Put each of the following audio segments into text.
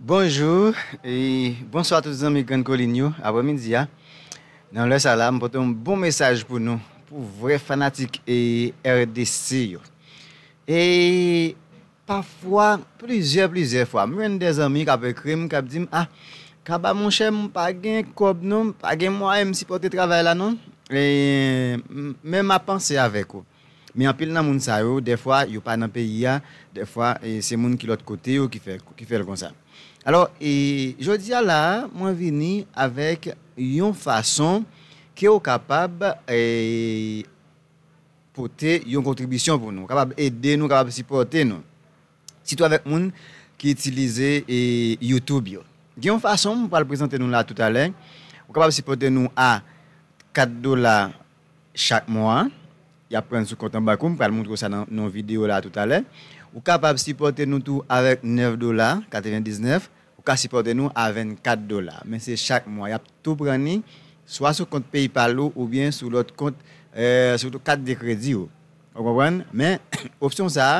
Bonjou e bonswa tout zanmi Grann Kolin yo, aprè midi a nan lè sa la m pote yon bon mesaj pou nou pou vrè fanatik RDC yo e pafwa plizyè plizyè fwa m jwenn de zanmi kap ekri m kap di m ah Kaba monchè m pa gen kòb non m pa gen mwayen m sipòte travay la non men ma panse avèk ou. Men anpil nan moun sa yo, dèfwa yo pa nan peyi a, dèfwa se moun ki lòt kote yo ki fè l konsa. Alò, jodi a la a, mwen vini avèk yon fason ke ou kapab pote yon kontribisyon pou nou, kapab ede nou, kapab sipòte nou. Sitou avèk moun ki itilize YouTube yo. Gen yon fason mwen pral prezante nou la toutalè, ou kapab sipòte nou a 4 dola. chak mwa a, y ap pran sou kont anba kou, m pral montre w sa nan yon videyo la toutalè. Ou kapab sipòte nou tou avèk 9 dola 99, ou ka sipòte nou a 24 dola, men se chak mwa. Y ap tou pran ni swa sou kont PayPal ou oubyen sou lòt kont, sou kat de kredi ou. Ou konprann? Men, opsyon sa a,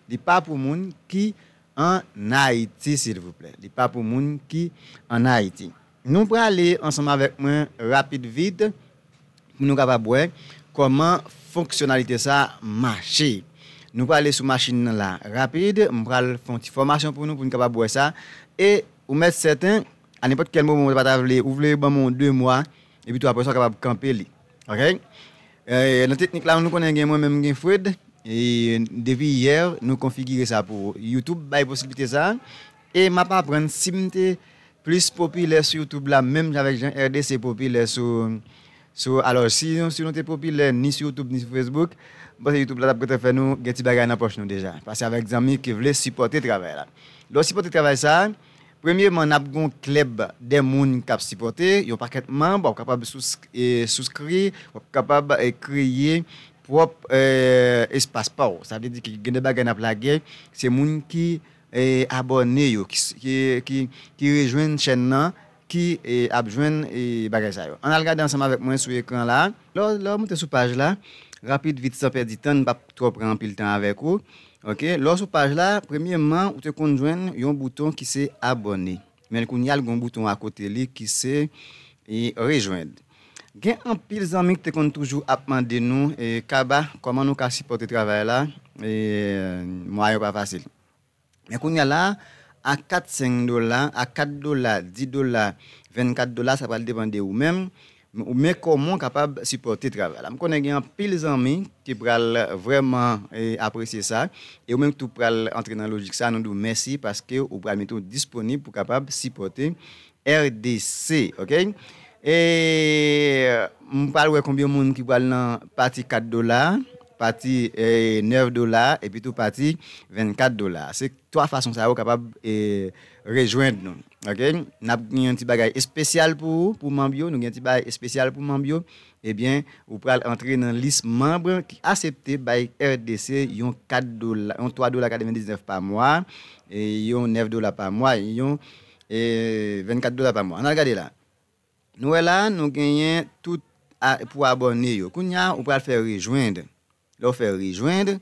li pa pou moun ki ann Ayiti silvouplè. Li pa pou moun ki ann Ayiti. Nou prale ansanm avèk mwen rapid vit pou nou kapab wè kòman fonksyonalite sa mache. Nou prale sou machin nan la rapid, m pral fè yon ti fòmasyon pou nou pou nou kapab wè sa e ou mèt sèten a nenpòt kèl moman ou ta pa ta vle, ou vle ban mwen yon 2 mwa epitou aprè sa ou kapab kanpe li ok. Nan teknik la nou konnen gen mwen menm gen Fred e depi yè nou konfigire sa pou ou, youtube bay posiblite sa. E map aprann sim te plis popilè sou youtube la menm jan avèk jan RDC popilè sou sou alò si nou te popilè ni sou youtube ni sou facebook m panse youtube la tap gentan fè nou gen ti bagay nan pòch nou deja pase avèk zanmi ki vle sipòte travay la lèw sipòte travay sa premyeman nap gon klèb de moun kap sipòte yon pakèt manb wap kapab souskri wap kapab kreye pwòp espas paw sa vle di gen de bagay nap lage se moun ki abòne yo ki rejwenn chèn nan ki ap jwenn bagay sa yo. Ann al gade ansanm avèk mwen sou ekran la. Lè w moute sou paj la, rapid vit san pèdi tan, n pap twò pran anpil tan avèk ou. Ok, lè w sou paj la, premyeman ou te konn jwenn yon bouton ki se abòne. Men kounya l gen yon bouton akote li ki se Rejwenn. Gen anpil zanmi ki te konn toujou ap mande nou, Kaba, kòman nou ka sipòte travay la? Mwayen yo pa fasil. Men kounya la, ak 4, 5 dola, ak 4 dola, 10 dola, 24 dola, sa pral depan de ou menm, Men kòman w kapab sipòte travay la. M konnen gen anpil zanmi ki pral vrèman apresye sa, e ou menm tou pral antre nan lojik sa, nou di w mèsi paske ou pral mete w disponib pou kapab sipòte RDC. Ok. E m pral wè konbyen moun ki pral nan pati 4 dola, pati 9 dola, epitou pati 24 dola. Se. 3 fason sa yo kapab rejwenn nou ok nap gen yon ti bagay espesyal pou ou pou manb yo nou gen ti bagay espesyal pou manb yo ebyen ou pral antre nan lis manb ki asepte bay RDC yon 4 dola yon 3 dola 99 pa mwa e yon 9 dola pa mwa e yon 24 dola pa mwa an al gade la nou wè la nou genyen tout pou abòne yo kounya ou pral fè rejwenn lè ou fè rejwenn.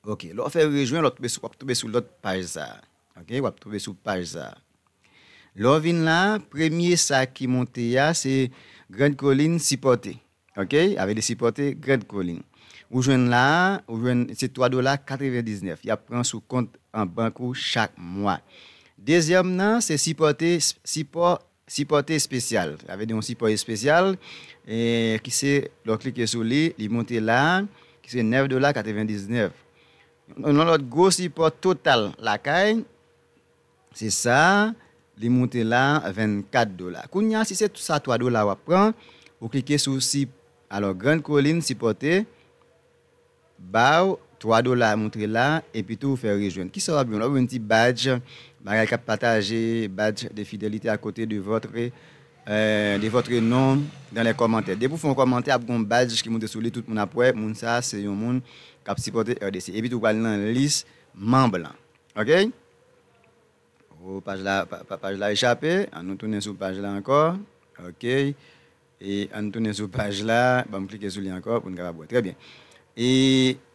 Ok lè w fè rejwen lè w ap tonbe sou lòt paj sa a ok w ap tonbe sou paj sa a lè w vin la premye sa ki monte a se grand colline sipòte ok avè li sipòte grand colline ou jwenn la a ou jwenn se 3 dola 99 y ap pran sou kont an bank ou chak mwa dezyèm nan se sipòte sipò Sipòte espesyal, sa vle di yon sipò espesyal ki se lè w klike sou li, li monte la a, ki se 9 dola 99. Yon lòt gwo sipò total lakay, se sa a, li monte la a 24 dola. Kounye a, si se sa 3 dola w ap pran, ou klike sou si, alò Grand Colline sipòte, Baw 3 dola moutre la epitou ou fè rejwenn kisa wap jwenn wap jwenn ti badj bagay kap pataje badj de fidelite a kote de votre de votre non dans les commentaires depi ou fè yon kòmantè ap gen yon badj ki moute sou li tout moun ap wè moun sa se yon moun kap sipòte RDC epitou ou pral nan lis manb lan ok oh paj la paj la echape an nou tounen sou paj la ankò ok. E ann tounen sou paj la, banm klike sou li ankò pou n kapab wè. Trè byen. E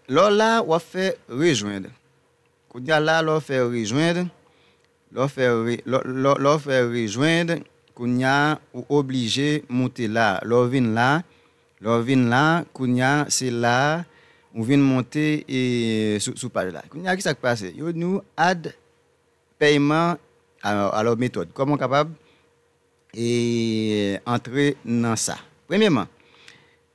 lè w la, w ap fè rejoindre. Kounye a la, lè w fè rejoindre, lè w fè re, lè, lè w fè rejoindre, kounye a ou oblije moute la. Lè w vin la, lè w vin la, kounye a se la ou vin monte e sou, sou paj la. Kounye a ki sa k pase? Yo di nou add pèyman, alò, alò metòd. Kòman w kapab. e antre nan sa. Premyeman,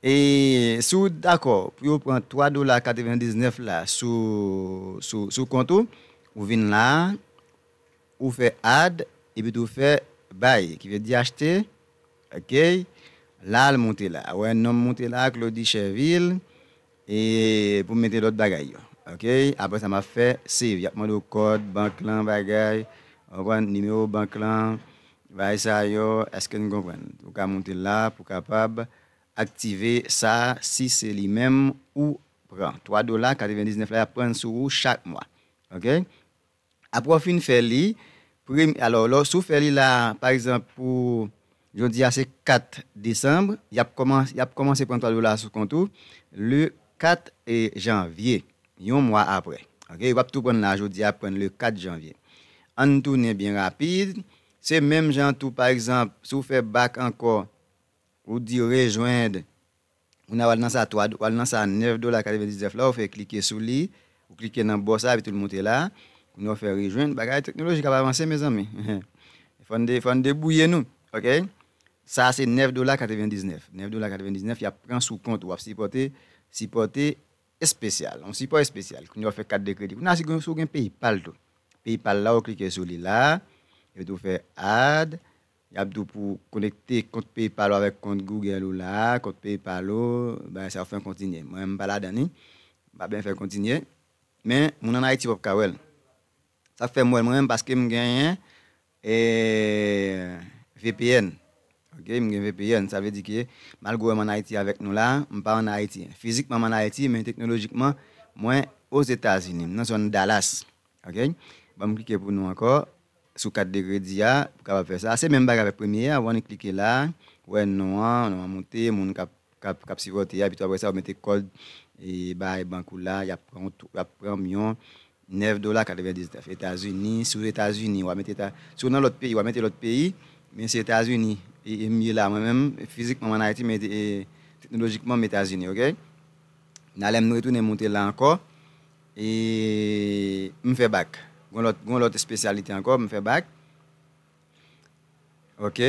e si w dakò pou yo pran 3 dola 99 la sou sou kont ou, ou vin la a, ou fè add epitou fè buy ki vle di achte, ok, la l moute la a, wè non m moute la a Claudy Chervil. E pou mete lòt bagay yo. Ok aprè sa map fè save yap mande w kòd bank lan bagay ou konprann nimewo bank lan bagay sa yo eske nou konprann ou ka moute la pou kapab aktive sa si se li menm ou pran 3 dola 99 la yap prann sou ou chak mwa ok. Apre w fin fè li, premye, alò lè w, si w fè li la, pa egzanp pou jodi a se 4 desanm, y ap kòmanse, y ap kòmanse pran 3 dola sou kont ou le 4 janvye, yon mwa apre. Ok, yo p ap tou pran l la jodi a, y ap pran l le 4 janvye. An n tounen byen rapid, se menm jan tou pa egzanp, si w fè bak ankò, ou di rejwenn. Moun a wal nan sa 3 wal nan sa 9 dola 99 la ou fè klike sou li ou klike nan bò sa epi tou l moute la kounye a ou fè rejwenn bagay teknoloji kap avanse mezanmi fòn de fòn debouye nou ok sa se 9 dola 99 9 dola 99 yap pran sou kont ou wap sipòte sipòte espesyal yon sipò espesyal kounye a ou fè kat de kredi kounye a si gen si w gen paypal tou paypal la ou klike sou li la epi tou fè add Yap di w pou w konekte kont PayPal ou avèk kont Google ou la, kont PayPal ou, bagay sa yo fè yon kontinye. Mwen menm m pa ladan li, m pa byen fè kontinye. Men, moun an Ayiti pap ka wè l. Sak fè m wè l mwen menm paske m genyen vpn ok, m gen vpn sa vle di ke malgre m an Ayiti avèk nou la, m pa an Ayiti. Fizikman m an Ayiti men teknolojikman mwen Ozetazini, m nan zòn Dallas. Ok banm klike pou nou ankò sou kat de kredi a pou kapab fè sa se menm bagay avèk premye a one klike la wè non an non an moute moun kap kap kap sipòte a epitou aprèsa ou mete kòd e bay bank ou la yap pran ou tou yap pranm yon 9 dola 99 etazini si w etazini wa mete eta si w nan lòt peyi wa mete lòt peyi men se etazini e m ye la mwen menm fizikman m an ayiti men e teknolojikman m etazini ok nalè m retounen moute la ankò. E m fè bak. Gon lòt gon lòt espesyalite ankò m fè bak. Ok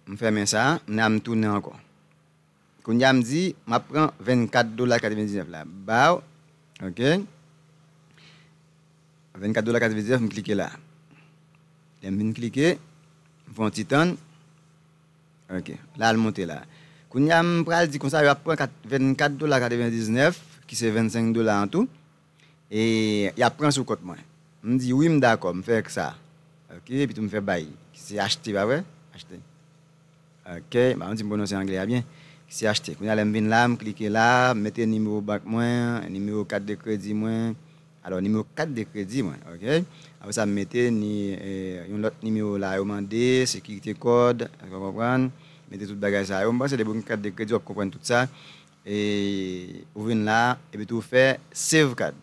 m fèmen sa nan m tounen ankò. Kounya m di m ap pran 24 dola 99 la baw ok. 24 dola 99 m klike la. Lè m vin klike m fè yon ti tann. Ok la al monte la. Kounya m pral di konsa yo ap pran 24 dola 99 ki se 25 dola an tou e yap pran sou kont mwen. M di wi m dakò m fè knsa ok epitou m fè bay ki se achte pa vre achte ok m pa konn si m pwononse anglè a byen ki se achte kounya lè m vin la m klike la m mete nimewo bank mwen nimewo kat de kredi mwen Alò nimewo kat de kredi mwen ok apre sa m mete ni yon lòt nimewo la yo mande sekirite kòd eske w konprann mete tout bagay sa yo m panse depi w gen kat de kredi w ap konprann tout sa e ou vin la epi tou ou fè save kad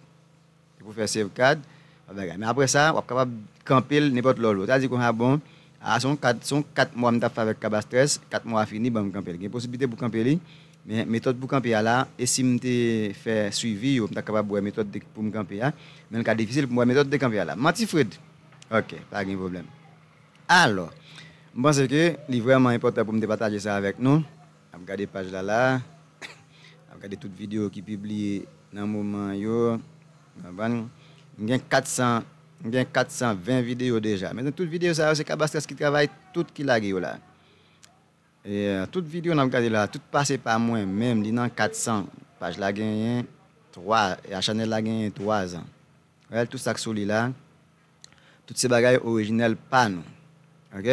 depi w fè save kad wap bagay men apre sa wap kapab kanpe l nenpòt lè w vle sa vle di konsa bon Ah son kat son 4 mwa m tap fè avèk cabastrès 4 mwa a fini banm kanpel gen posibilite pou kanpe li men metòd pou kanpe a la e sim te fè swivi yo m ta kapab wè metòd de poum kanpe a men l ka difisil poum wè metòd de kanpe a la manti Fred ok pa gen pwoblèm alò m panse ke li vrèman enpòtan poum te pataje sa avèk nou. Nap gade paj la la. Nap gade tout video ki pibliye nan moman an yo. Konprann? M gen 400, m gen 420 video deja. Men tout video sa yo se Kabastras ki travay tout ki lage yo la. Tout video nap gade la, tout pase pa mwen menm, li nan 400. Paj la genyen 3, chanèl la genyen 3 zan. Gad tout sak sou li la tout se bagay orijinèl pa nou ok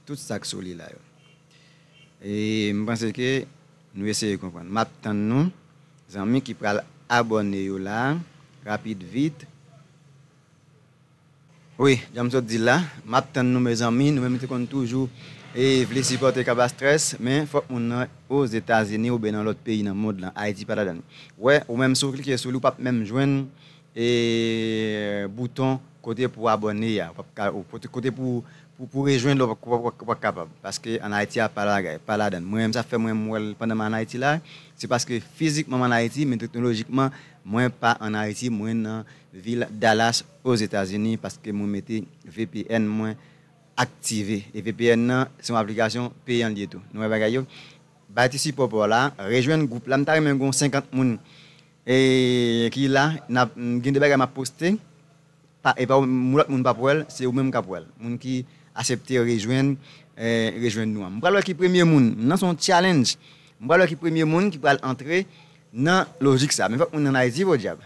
tout sak sou li la yo e m panse ke nou eseye konprann map tann nou zanmi ki pral abòne yo la rapid vit. Wi janm sot dil la map tann nou mezanmi nou menm te konn toujou vle sipòte cabastrès men fòk moun nan ozetazini oubyen nan lòt peyi nan mond lan ayiti pa ladann wè ou menm si ou klike sou li ou pap menm jwenn bouton kote pou abòne a kote pou rejwenn li ou pap kapab paske an ayiti a pa ladann mwen menm sa fè mwen wèl pandan m an ayiti la se paske fizikman m an ayiti men teknolojikman mwen pa an ayiti mwen nan Vil Dallas Ozetazini paske mwen mete vpn mwen aktive e vpn nan se yon aplikasyon peyan li ye tou nou wè bagay yo bay ti sipò paw la rejwenn gwoup la m ta renmen gon 50 moun ki la nap gen de bagay map poste pa epa ou lòt moun pap wèl se ou menm kap wèl moun ki asepte rejwenn rejwenn nou an m pral wè ki premye moun nan son challenge m pral wè ki premye moun ki pral antre Nan lojik sa, men fòk moun an Ayiti podyab.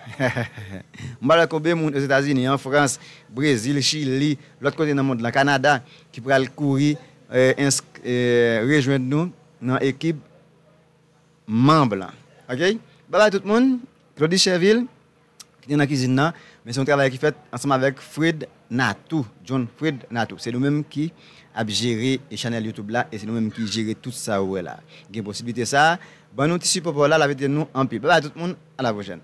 M pa wè konbe moun Ozetazini, an Frans, Brezil, Chili, lòt kote nan mond lan, Kanada, ki pral kouri rejwenn nou nan ekip manb lan. Ok! Babay tout moun! Claudy Chervil. ki te nan kizin nan, men se yon travay ki fèt ansanm avèk Fred Nathou, John Fred Nathou. Se nou menm ki ap jere chanèl YouTube la e se nou menm ki jere tout sa ou wè la. Gen posiblite sa, ban nou ti sipò pa w la, l ap ede nou anpil. Bye bye tout moun, a la pwochèn.